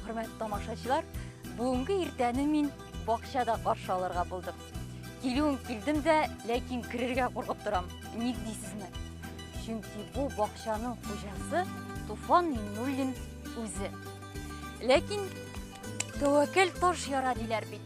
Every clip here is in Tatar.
Хөрмәт тамашачылар, бүгенге иртәне мин бакчада каршы алырга булдым. Килүен килдем дә, ләкин керергә куркып торам. Ник дисезме? Чөнки бу бакчаның хуҗасы Туфан Миннуллин үзе. Ләкин тәвәккәл таш яра диләр бит.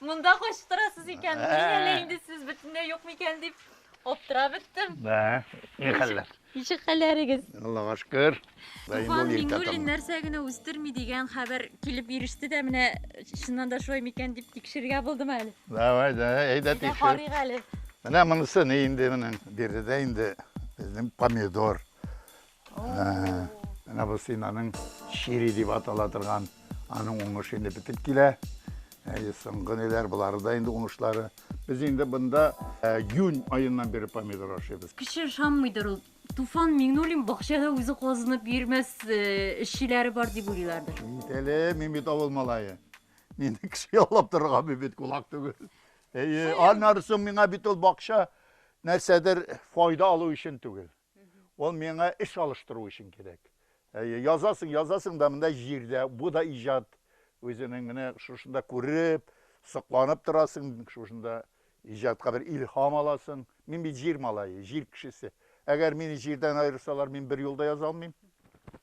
Монда кайчып торасыз икән, Ә. мин әле инде сез бөтенләй юк микән дип аптырап беттем. Бә, ни хәлләр? Ничек хәлләрегез? Аллага шөкер. Туфан Миңнуллин нәрсә генә үстерми дигән хәбәр килеп иреште дә менә чыннан да шулай микән дип тикшергә булдым әле. Давай, да, әйдә Әйдә тикшер. карыйк әле. Менә монысы ни инде менә биредә инде безнең помидор. Менә бу стенаның чири дип атала торган, аның уңышы инде бетеп килә. Әйе, соңгы ниләр, болары да инде уңышлары. Без инде бында июнь аеннан бері помидор ашыйбыз. Кеше ышанмыйдыр ул. Туфан Миңнуллин бакчада үзе казынып йөрмәс эшчеләре бар дип уйлыйлардыр. Бит әле, мин бит авыл малае. Мине кеше яллап торырга бит кулак түгел. Әйе, аннары соң миңа бит ул бакча нәрсәдер файда алу өчен түгел. Ул миңа эш алыштыру өчен кирәк. Әйе, язасың, язасың да монда җирдә, бу да иҗат. Үзенең менә шушында күреп, сокланып торасың, шушында иҗатка бер илһам аласың. Мин бит җир малае, җир кешесе. Әгәр мине җирдән аерсалар, мин бер юл да яза алмыйм.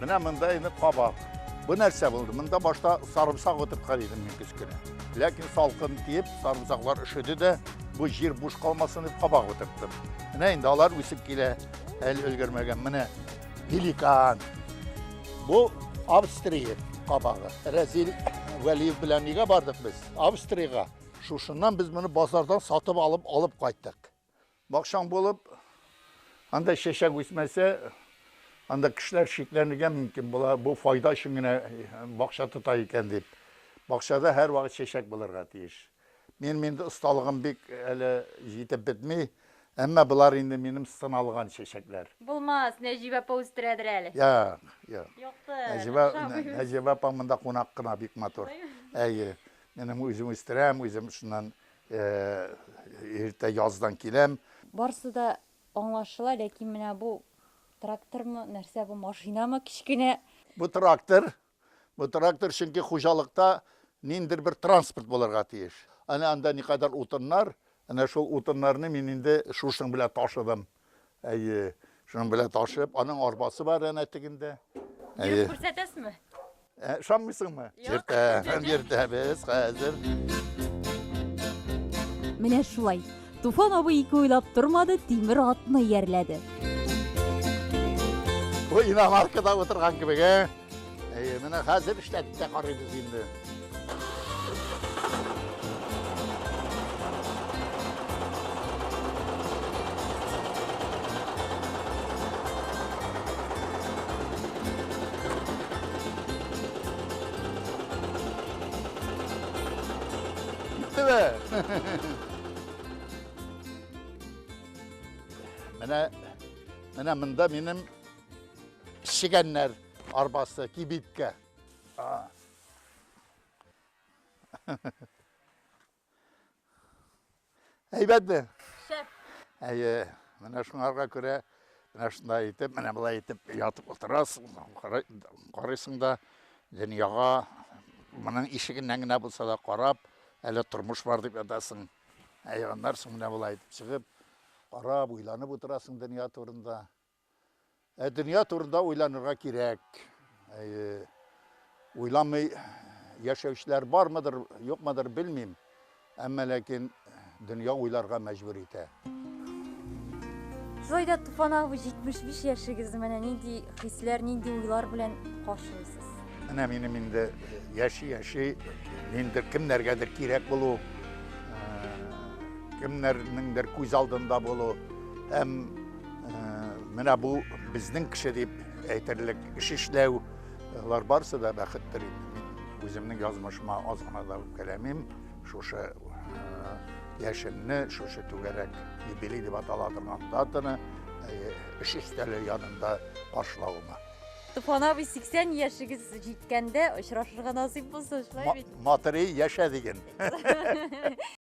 Менә монда инде кабак. Бу нәрсә булды? Монда башта сарымсак утырткан идем мин кечкенә. Ләкин салкын тиеп, сарымсаклар өшеде дә, бу җир буш калмасын дип кабак утырттым. Менә инде алар үсеп килә, әле өлгермәгән. Менә пеликан. Бу Австрия кабагы. Рәзил Вәлиев белән нигә бардык без? Австриягә. Шушыннан без моны базардан сатып алып алып кайттык. Бакчаң булып, анда чәчәк үсмәсә, анда кешеләр шикләнергә мөмкин була, бу файда өчен генә бакча тота икән дип. Бакчада һәрвакыт чәчәк булырга тиеш. Минем инде осталыгым бик әле җитеп бетми, әмма болар инде минем сыналган чәчәкләр. Булмас, Нәҗибә апа үстерәдер әле. Юк, юк. Юктыр, охшамый. Нәҗибә апаң монда кунак кына, бик матур. Әйе, минем үзем үстерәм, үзем шуннан Иртә яздан киләм. Барсы да аңлашыла, ләкин менә бу трактормы, нәрсә бу, машинамы кечкенә? Бу трактор, бу трактор, чөнки хуҗалыкта ниндидер бер транспорт булырга тиеш. Әнә анда никадәр утыннар, әнә шул утыннарны мин инде шушының белән ташыдым. Әйе. Шуның белән ташып, аның арбасы бар әнә тегендә. Әйе. Күрсәтәсезме? Ә, Ышанмыйсыңмы? Йөртә, йөртәбез хәзер. Менә шулай. Туфан абый ике уйлап тормады, тимер атны иярләде. Бу иномаркада утырган кебек, ә? Әйе, менә хәзер эшләп тә карыйбыз инде. Менә менә монда минем пешегәннәр. Арбасы, кибиткә. Әйбәтме? Шәп. Әйе, менә шуңарга күрә менә шундай итеп, менә былай итеп ятып утырасың, карыйсың да дөньяга моның ишегеннән генә булса да карап, әле тормыш бар дип ятасың. Ә аннан соң менә былай итеп чыгып, карап, уйланып утырасың дөнья турында. Ә дөнья турында уйланырга кирәк. Әйе. Уйламый яшәүчеләр бармыдыр, юкмыдыр, белмим. Әмма ләкин дөнья уйларга мәҗбүр итә. Шулай да Туфан абый 75 яшегезне менә нинди хисләр, нинди уйлар белән каршылыйсыз? Менә минем инде яши-яши, ниндер кемнәргәдер кирәк булу, кемнәрнеңдер күз алдында булу һәм Менә бу безнең кеше дип әйтерлек эш эшләү, алар барысы да бәхеттер инде. Мин үземнең язмышыма аз гына да үпкәләмим. Шушы яшенне, шушы түгәрәк юбилей дип атала торган датаны эш өстәле янында каршылавыма. Туфан абый, 80 яшегез җиткәндә очрашырга насыйп булсын, шулай бит? Матырый яшә диген.